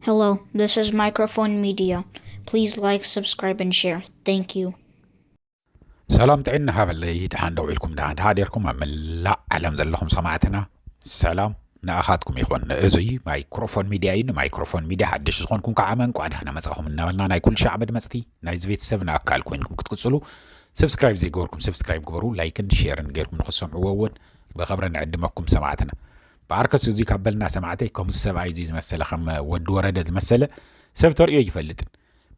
Hello, this is Microphone Media. Please like, subscribe, and share. Thank you. ሰላም ጥዕና ሃበለይ ድሓን ደው ኢልኩም ድሓ ድሓ ዴርኩም ኣብ መላእ ዓለም ዘለኹም ሰማዕትና ሰላም ንኣኻትኩም ይኹን እዙይ ማይክሮፎን ሚድያ እዩ ንማይክሮፎን ሚድያ ሓደሽ ዝኾንኩም ከዓ መንቋ ድሕና መፃኹም እናበልና ናይ ኩሉ ሻዕ መድመፅቲ ናይዚ ቤተሰብ ንኣካል ኮይንኩም ክትቅፅሉ ሰብስክራይብ ዘይገበርኩም ሰብስክራይብ ግበሩ ላይክን ሼርን ጌርኩም ንክሰምዕዎ እውን ብኸብረ ንዕድመኩም ሰማዕትና ብኣርከስ እዙይ ካብ በልና ሰማዕተይ ከምዚ ሰብኣይ እዙይ ዝመሰለ ከም ወዲ ወረደ ዝመሰለ ሰብ ተርእዮ ኣይፈልጥን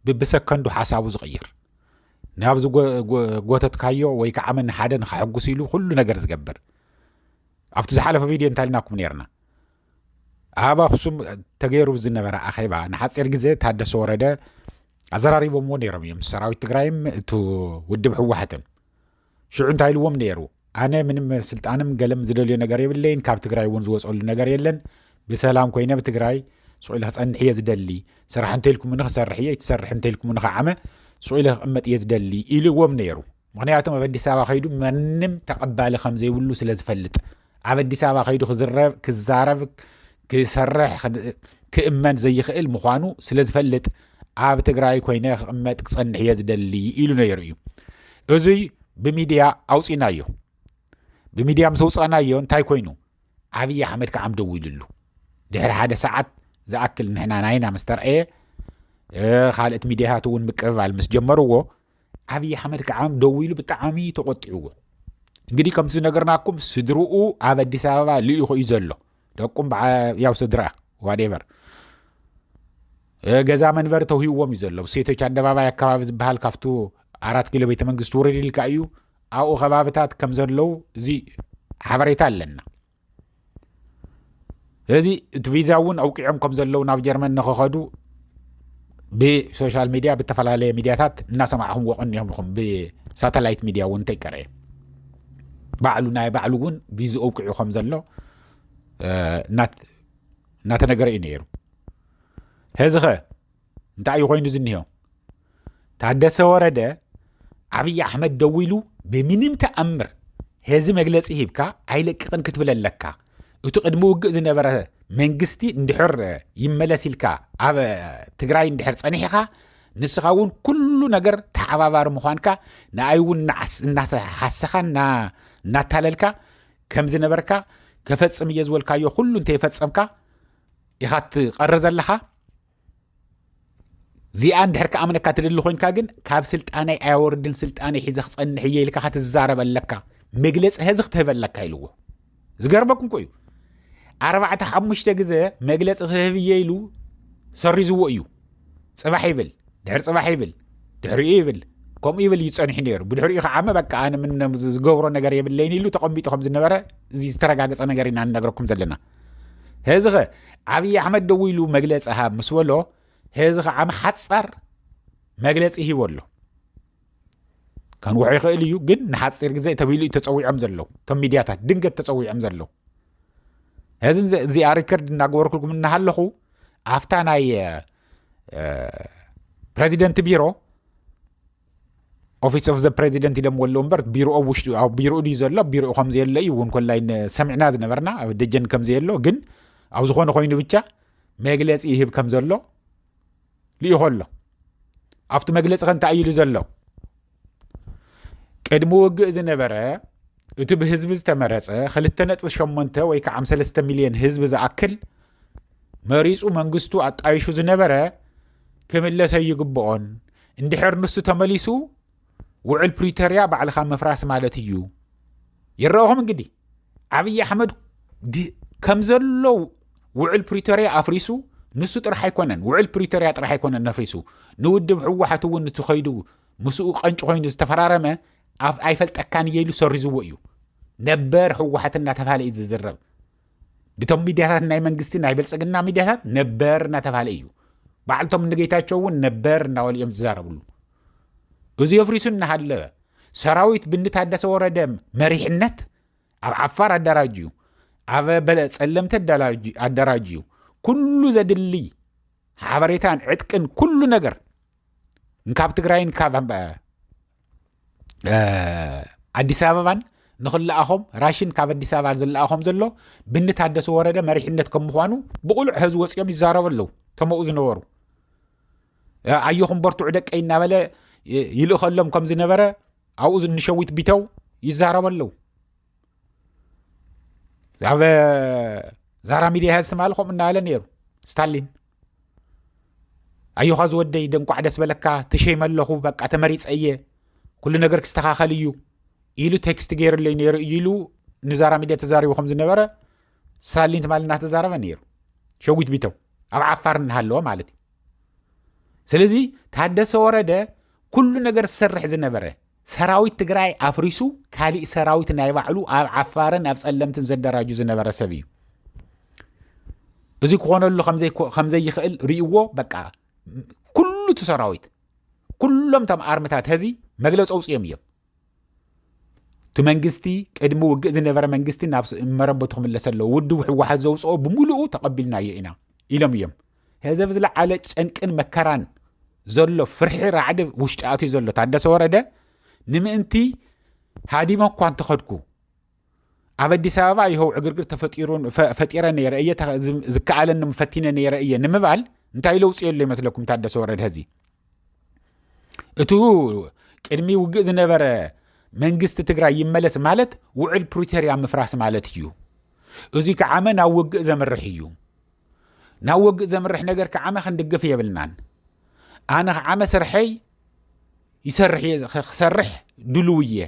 ብብሰከንዱ ሓሳቡ ዝቕይር ናብ ዝጎተትካዮ ወይ ከዓ መን ሓደ ንኸሐጉስ ኢሉ ኩሉ ነገር ዝገብር ኣብቲ ዝሓለፈ ቪድዮ እንታይ ኢልናኩም ነርና ኣብ ኣክሱም ተገይሩ ዝነበረ ኣኼባ ንሓፂር ግዜ ታደሰ ወረደ ኣዘራሪቦምዎ ነይሮም እዮም ሰራዊት ትግራይም እቲ ውድብ ህወሓትን ሽዑ እንታይ ኢልዎም ነይሩ ኣነ ምንም ስልጣንም ገለም ዝደልዮ ነገር የብለይን ካብ ትግራይ እውን ዝወፀሉ ነገር የለን ብሰላም ኮይነ ብትግራይ ስቑኢለ ክፀንሕ እየ ዝደሊ ስራሕ እንተልኩምኒ ክሰርሕ እየ ይትሰርሕ እንተልኩምኒ ከዓመ ስቑኢለ ክቕመጥ እየ ዝደሊ ኢልዎም ነይሩ ምክንያቱም ኣብ ኣዲስ ኣበባ ከይዱ መንም ተቐባሊ ከም ዘይብሉ ስለ ዝፈልጥ ኣብ ኣዲስ ኣበባ ከይዱ ክዝረብ ክዛረብ ክሰርሕ ክእመን ዘይኽእል ምዃኑ ስለ ዝፈልጥ ኣብ ትግራይ ኮይነ ክቕመጥ ክጸንሕ እየ ዝደሊ ኢሉ ነይሩ እዩ እዙይ ብሚድያ ኣውፂናዮ ብሚድያ ምስ ኣውፃናዮ እንታይ ኮይኑ ዓብዪ ኣሕመድ ከዓ ደው ኢሉሉ ድሕሪ ሓደ ሰዓት ዝኣክል ንሕና ናይና ምስ ተርኣየ ካልእት ሚድያታት እውን ምቅብባል ምስ ጀመርዎ ዓብዪ ኣሕመድ ከዓ ደዊሉ ብጣዕሚ ተቆጢዕዎ እንግዲህ ከምቲ ዝነገርናኩም ስድርኡ ኣብ ኣዲስ ኣበባ ልኢኹ እዩ ዘሎ ደቁም ያው ስድራ ዋዴቨር ገዛ መንበሪ ተውሂዎም እዩ ዘሎ ሴቶች ኣደባባይ ኣካባቢ ዝበሃል ካብቱ ኣራት ኪሎ ቤተ መንግስቲ ውረድ ኢልካ እዩ ኣብኡ ከባብታት ከም ዘለው እዚ ሓበሬታ ኣለና ስለዚ እቲ ቪዛ እውን ኣውቂዖም ከም ዘለዉ ናብ ጀርመን ንክኸዱ ብሶሻል ሚድያ ብተፈላለየ ሚድያታት እናሰማዕኹም ወቐን እዮም ኢኹም ብሳተላይት ሚድያ እውን እንተይቀረ ባዕሉ ናይ ባዕሉ እውን ቪዙ ኣውቂዑ ከም ዘሎ እናተነገረ እዩ ነይሩ ሕዚ ኸ እንታይ እዩ ኮይኑ ዝኒሆ ታደሰ ወረደ ዓብዪ ኣሕመድ ደው ኢሉ ብምንም ተኣምር ሄዚ መግለፂ ሂብካ ኣይለቅቕን ክትብል ኣለካ እቲ ቅድሚ ውግእ ዝነበረ መንግስቲ እንድሕር ይመለስ ኢልካ ኣብ ትግራይ እንድሕር ፀኒሕኻ ንስኻ እውን ኩሉ ነገር ተሓባባሪ ምዃንካ ንኣይ እውን እናሓሰኻ እናታለልካ ከም ዝነበርካ ከፈፅም እየ ዝበልካዮ ኩሉ እንተይፈፀምካ ኢኻ ትቐሪ ዘለኻ ዚኣ እንድሕር ክኣምነካ ትደሊ ኮንካ ግን ካብ ስልጣነይ ኣያወርድን ስልጣነይ ሒዘ ክፀንሕ እየ ኢልካ ክትዛረብ ኣለካ መግለፂ ሀዚ ክትህበ ኣለካ ኢልዎ ዝገርመኩም ኮ እዩ ኣርባዕተ ሓሙሽተ ግዘ መግለፂ ክህብ እየ ኢሉ ሰሪዝዎ እዩ ፅባሕ ይብል ድሕር ፅባሕ ይብል ድሕሪኡ ይብል ከምኡ ይብል እዩ ፀኒሑ ነይሩ ብድሕሪኡ ከዓመ በቃ ኣነ ዝገብሮ ነገር የብለይን ኢሉ ተቐሚጡ ከም ዝነበረ እዚ ዝተረጋገፀ ነገር ኢና ንነገረኩም ዘለና ሄዚ ከ ዓብይ ኣሕመድ ደው ኢሉ መግለፂ ሃብ ምስ በሎ ሄዚ ከዓ ምሓፃር መግለፂ ሂቦ ኣሎ ከንውሖ ይኽእል እዩ ግን ንሓፂር ግዜ ተብሂሉ እዩ ተፀዊዖም ዘለዉ እቶም ሚድያታት ድንገት ተፀዊዖም ዘለዉ እዚ እዚኣ ሪከርድ እናገበርኩልኩም እናሃለኹ ኣብታ ናይ ፕረዚደንት ቢሮ ኦፊስ ኦፍ ዘ ፕሬዚደንት ኢሎምዎ ኣለዉ እምበር ቢሮ ኣብ ውሽጡ ኣብ ቢሮኡ ድዩ ዘሎ ኣብ ቢሮኡ ከም ዘየለ እዩ እውን ኮላይ ሰሚዕና ዝነበርና ኣብ ደጀን ከም ዘየሎ ግን ኣብ ዝኾነ ኮይኑ ብቻ መግለፂ ይህብ ከም ዘሎ ልኢኾ ኣሎ ኣብቲ መግለፂ ከ እንታይ እዩ ኢሉ ዘሎ ቅድሚ ውግእ ዝነበረ እቲ ብህዝቢ ዝተመረፀ 2.8 ወይ ከዓ 3 ሚልዮን ህዝቢ ዝኣክል መሪፁ መንግስቱ ኣጣይሹ ዝነበረ ክምለስ ኣይግብኦን እንድሕር ንሱ ተመሊሱ ውዕል ፕሪቶርያ ባዕልካ ምፍራስ ማለት እዩ ይረአኹም እንግዲህ ዓብዪ ኣሕመድ ከም ዘሎ ውዕል ፕሪቶርያ ኣፍሪሱ ንሱ ጥራሕ ኣይኮነን ውዕል ፕሪቶርያ ጥራሕ ኣይኮነን ነፍሪሱ ንውድብ ህወሓት እውን እቲ ከይዱ ምስኡ ቀንጭ ኮይኑ ዝተፈራረመ ኣይፈልጠካን እየ ኢሉ ሰሪዝዎ እዩ ነበር ህወሓት እናተባሃለ እዩ ዝዝረብ ብቶም ሚድያታት ናይ መንግስቲ ናይ ብልፅግና ሚድያታት ነበር እናተባሃለ እዩ ባዕልቶም ንጌታቸው እውን ነበር እናበሉ እዮም ዝዛረብሉ እዚ የፍሪሱ እናሃለወ ሰራዊት ብንታደሰ ወረደ መሪሕነት ኣብ ዓፋር ኣደራጅዩ ኣብ በለ ፀለምቲ ኣደራጅዩ ኩሉ ዘድሊ ሓበሬታን ዕጥቅን ኩሉ ነገር ካብ ትግራይን ካብ ኣዲስ ኣበባን ንክለኣኾም ራሽን ካብ ኣዲስ ኣበባ ዝለኣኾም ዘሎ ብኒ ታደሰ ወረደ መሪሕነት ከም ምኳኑ ብቑሉዕ ህዚ ወፂኦም ይዛረቡ ኣለዉ ተመኡ ዝነበሩ ኣየኹም በርትዑ ደቀይ እናበለ ይልእኸሎም ከም ዝነበረ ኣብኡ ዝንሸዊት ቢተው ይዛረቡ ኣለዉ ኣብ ዛራ ሚድያ ህዚ ትማሊ ከምኡ እናበለ ነይሩ ስታሊን ኣዮኻ ዝወደይ ደንቋዕ ደስ በለካ ተሸይመ ኣለኹ በቃ ተመሪፀ እየ ኩሉ ነገር ክስተኻኸል እዩ ኢሉ ቴክስት ገይሩለይ ነይሩ እዩ ኢሉ ንዛራ ሚድያ ተዛሪቡ ከም ዝነበረ ሳሊን ትማሊ እናተዛረበ ነይሩ ሸዊት ቢተው ኣብ ዓፋር እናሃለወ ማለት እዩ ስለዚ ታደሰ ወረደ ኩሉ ነገር ዝሰርሕ ዝነበረ ሰራዊት ትግራይ ኣፍሪሱ ካሊእ ሰራዊት ናይ ባዕሉ ኣብ ዓፋርን ኣብ ጸለምትን ዘደራጁ ዝነበረ ሰብ እዩ እዚ ክኾነሉ ከምዘይክእል ርእዎ በቃ ኩሉ እቲ ሰራዊት ኩሎም ቶም ኣርምታት ሀዚ መግለፂ ኣውፅኦም እዮም እቲ መንግስቲ ቅድሚ ውግእ ዝነበረ መንግስቲ ናብ መረበቱ ክምለሰ ኣለዎ ውድብ ህወሓት ዘውፅኦ ብምልኡ ተቐቢልናዮ ኢና ኢሎም እዮም ሀዚ ኣብ ዝለዓለ ጨንቅን መከራን ዘሎ ፍርሒ ራዕዲ ውሽጢ ኣትዩ ዘሎ ታደሰ ወረደ ንምእንቲ ሃዲሞ እኳ እንተኸድኩ ኣብ ኣዲስ ኣበባ ይኸው ዕግርግር ተፈጢሩ ፈጢረ ነይረ እየ ዝከኣለኒ ፈቲነ ነይረ እየ ንምባል እንታይ ለውፂ የሎ ይመስለኩም ታደሰ ወረደ ሀዚ እቱ ቅድሚ ውግእ ዝነበረ መንግስቲ ትግራይ ይመለስ ማለት ውዕል ፕሪቶርያ ምፍራስ ማለት እዩ እዙ ከዓመ ናብ ውግእ ዘምርሕ እዩ ናብ ወግእ ዘምርሕ ነገር ክዓመ ክንድግፍ የብልናን ኣነ ክዓመ ስርሐይ ይሰርሕ እየ ክሰርሕ ድልው እየ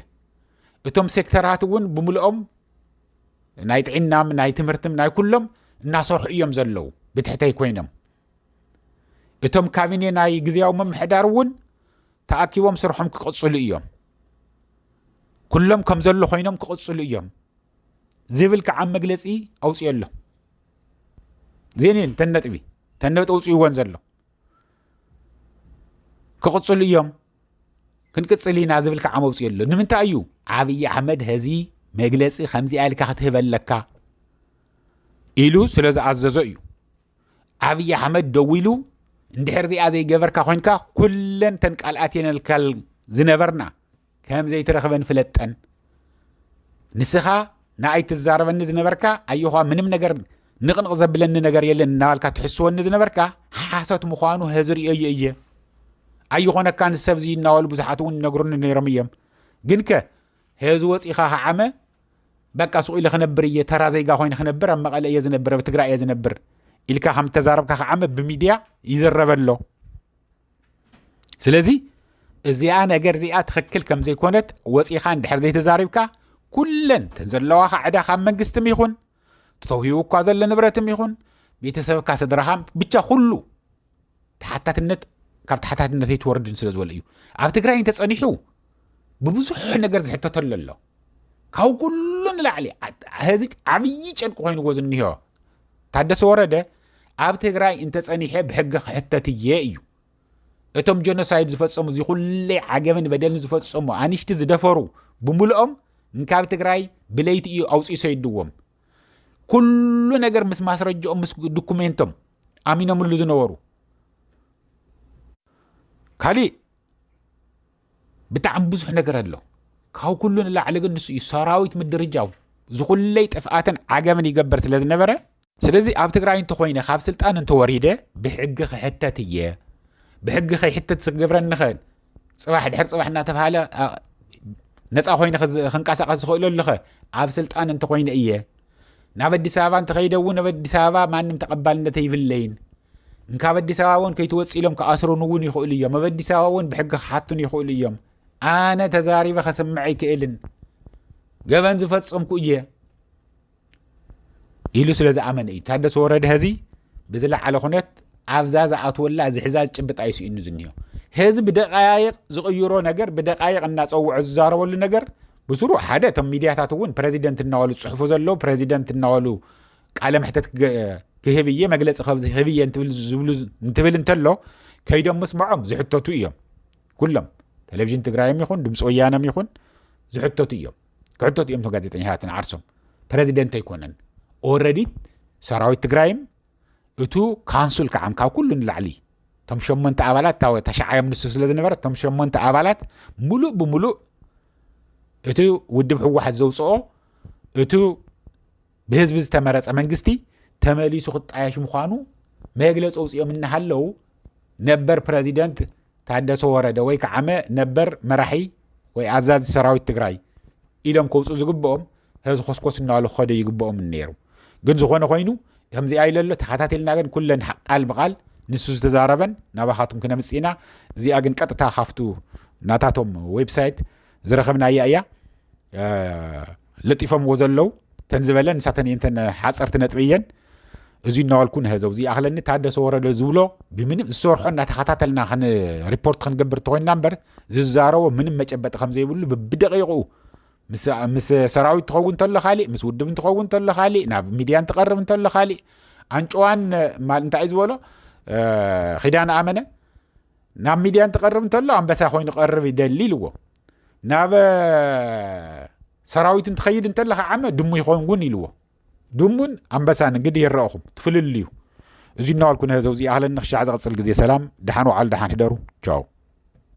እቶም ሴክተራት እውን ብምልኦም ናይ ጥዒናም ናይ ትምህርትም ናይ ኩሎም እናሰርሑ እዮም ዘለዉ ብትሕተይ ኮይኖም እቶም ካቢኔ ናይ ግዜያዊ ምምሕዳር እውን ተኣኪቦም ስርሖም ክቕፅሉ እዮም ኩሎም ከም ዘሎ ኮይኖም ክቕፅሉ እዮም ዝብል ከዓ መግለፂ ኣውፅኦ ኣሎ እዚን እየን እተን ነጥቢ እተን ነጥቢ ውፅእዎን ዘሎ ክቕፅሉ እዮም ክንቅፅል ኢና ዝብል ከዓ መውፅኡ ኣሎ ንምንታይ እዩ ዓብዪ ኣሕመድ ሀዚ መግለፂ ከምዚኣ ኢልካ ክትህበ ኣለካ ኢሉ ስለ ዝኣዘዞ እዩ ዓብዪ ኣሕመድ ደው ኢሉ እንድሕር እዚኣ ዘይገበርካ ኮንካ ኩለን ተን ቃልኣት የነልካል ዝነበርና ከም ዘይትረኽበን ፍለጠን ንስኻ ንኣይ ትዛረበኒ ዝነበርካ ኣየዃ ምንም ነገር ንቕንቕ ዘብለኒ ነገር የለን እናባልካ ትሕስወኒ ዝነበርካ ሓሶት ምዃኑ ሀዚ ርእዮዮ እየ ኣይኾነካን ሰብ እዚ እናበሉ ብዙሓት እውን ይነግሩኒ ነይሮም እዮም ግን ከ ሀዚ ወፂኻ ከዓመ በቃ ሱቕ ኢለ ክነብር እየ ተራ ዜጋ ኮይነ ክነብር ኣብ መቐለ እየ ዝነብር ኣብ ትግራይ እየ ዝነብር ኢልካ ከም ተዛረብካ ከዓመ ብሚድያ ይዝረበ ኣሎ ስለዚ እዚኣ ነገር እዚኣ ትኽክል ከም ዘይኮነት ወፂኻ እንድሕር ዘይተዛሪብካ ኩለን ተን ዘለዋኻ ዕዳ ካብ መንግስትም ይኹን ተተውሂቡ እኳ ዘሎ ንብረትም ይኹን ቤተሰብካ ስድራኻም ብቻ ኩሉ ተሓታትነት ካብ ተሓታትነት ኣይትወርድን ስለ ዝበለ እዩ ኣብ ትግራይ እንተፀኒሑ ብብዙሕ ነገር ዝሕተተሉ ኣሎ ካብ ኩሉ ንላዕሊ ህዚ ዓብዪ ጨንቂ ኮይንዎ ዝኒሆ ታደሰ ወረደ ኣብ ትግራይ እንተፀኒሐ ብሕገ ክሕተት እየ እዩ እቶም ጀኖሳይድ ዝፈፀሙ እዚ ኩለይ ዓገበን በደልን ዝፈፀሙ ኣንሽቲ ዝደፈሩ ብምልኦም እንካብ ትግራይ ብለይቲ እዩ ኣውፅኡ ሰይድዎም ኩሉ ነገር ምስ ማስረጃኦም ምስ ዶኩሜንቶም ኣሚኖምሉ ዝነበሩ ካሊእ ብጣዕሚ ብዙሕ ነገር ኣሎ ካብ ኩሉ ንላዕሊ ግን ንሱ እዩ ሰራዊት ምድርጃው ዝኹለይ ጥፍኣትን ዓገምን ይገበር ስለ ዝነበረ ስለዚ ኣብ ትግራይ እንተኮይነ ካብ ስልጣን እንተወሪደ ብሕጊ ክሕተት እየ ብሕጊ ከይሕተት ዝገብረኒ ኸ ፅባሕ ድሕር ፅባሕ እናተባሃለ ነፃ ኮይነ ክንቀሳቀስ ዝኽእለሉ ኸ ኣብ ስልጣን እንተኮይነ እየ ናብ ኣዲስ ኣበባ እንተኸይደ እውን ኣብ ኣዲስ ኣበባ ማንም ተቐባልነት ኣይብለይን እንካብ ኣዲስ ኣበባ እውን ከይትወፅ ኢሎም ክኣስሩን እውን ይኽእሉ እዮም ኣብ ኣዲስ ኣበባ እውን ብሕጊ ክሓቱን ይኽእሉ እዮም ኣነ ተዛሪበ ከስምዕ ኣይክእልን ገበን ዝፈፀምኩ እየ ኢሉ ስለ ዝኣመነ እዩ ታደሰ ወረደ ህዚ ብዝለዓለ ኩነት ኣብዛ ዝኣትወላ እዚ ሕዛ ዝጭብጥ ኣይስኢኑ ዝኒሆ ህዚ ብደቃይቅ ዝቕይሮ ነገር ብደቃይቅ እናፀውዖ ዝዛረበሉ ነገር ብስሩ ሓደ እቶም ሚድያታት እውን ፕረዚደንት እናበሉ ዝፅሕፉ ዘለዉ ፕረዚደንት እናበሉ ቃለ መሕተት ክህብ እየ መግለፂ ክህብ እየ እንትብል እንተሎ ከይዶም ምስምዖም ዝሕተቱ እዮም ኩሎም ቴሌቭዥን ትግራይም ይኹን ድምፂ ወያነም ይኹን ዝሕተቱ እዮም ክሕተቱ እዮም ቶም ጋዜጠኛታት ንዓርሶም ፕረዚደንት ኣይኮነን ኦረዲ ሰራዊት ትግራይም እቱ ካንሱል ከዓም ካብ ኩሉ ንላዕሊ እቶም ሸሞንተ ኣባላት ተሸዓዮም ንሱ ስለ ዝነበረ እቶም ሸሞንተ ኣባላት ሙሉእ ብምሉእ እቲ ውድብ ሕወሓት ዘውፅኦ እቲ ብህዝቢ ዝተመረፀ መንግስቲ ተመሊሱ ክጣየሽ ምዃኑ መግለፂ ኣውፅኦም እናሃለው ነበር ፕረዚደንት ታደሰ ወረደ ወይ ከዓመ ነበር መራሒ ወይ ኣዛዚ ሰራዊት ትግራይ ኢሎም ከውፁ ዝግብኦም ህዚ ኮስኮስ እናበሉ ክኸደ ይግብኦም ነይሩ ግን ዝኾነ ኮይኑ ከምዚኣ ኢለ ኣሎ ተኸታተልና ግን ኩለን ቃል ብቃል ንሱ ዝተዛረበን ናባኻትኩም ክነምፅእ ኢና እዚኣ ግን ቀጥታ ካፍቱ ናታቶም ዌብሳይት ዝረኸብናያ እያ ለጢፎምዎ ዘለው ተን ዝበለ ንሳተን እየን ተን ሓፀርቲ ነጥቢ እየን እዚ እናዋልኩ ንህዘው እዚ ኣኽለኒ ታደሰ ወረደ ዝብሎ ብምንም ዝሰርሖ እናተኸታተልና ሪፖርት ክንገብር ተኮይንና እምበር ዝዛረቦ ምንም መጨበጢ ከምዘይብሉ ብደቂቑ ምስ ሰራዊት ትኸውን እንተሎ ካሊእ ምስ ውድብ እንትኸውን እንተሎ ካሊእ ናብ ሚድያ እንትቐርብ እንተሎ ካሊእ ኣንጭዋን እንታይ እዩ ዝበሎ ኪዳን ኣመነ ናብ ሚድያ እንትቐርብ እንተሎ ኣንበሳ ኮይኑ ቀርብ ይደሊ ኢልዎ ናብ ሰራዊት እንትኸይድ እንተለኻ ዓመ ድሙ ይኸውን እውን ኢልዎ ድሙን ኣንበሳን እንግዲህ ይረእኹም ትፍልልዩ እዚ እናዋልኩ ነህዘው እዚኣህለን ንክሻዕ ዝቕፅል ግዜ ሰላም ደሓን ውዓል ደሓን ሕደሩ ቻው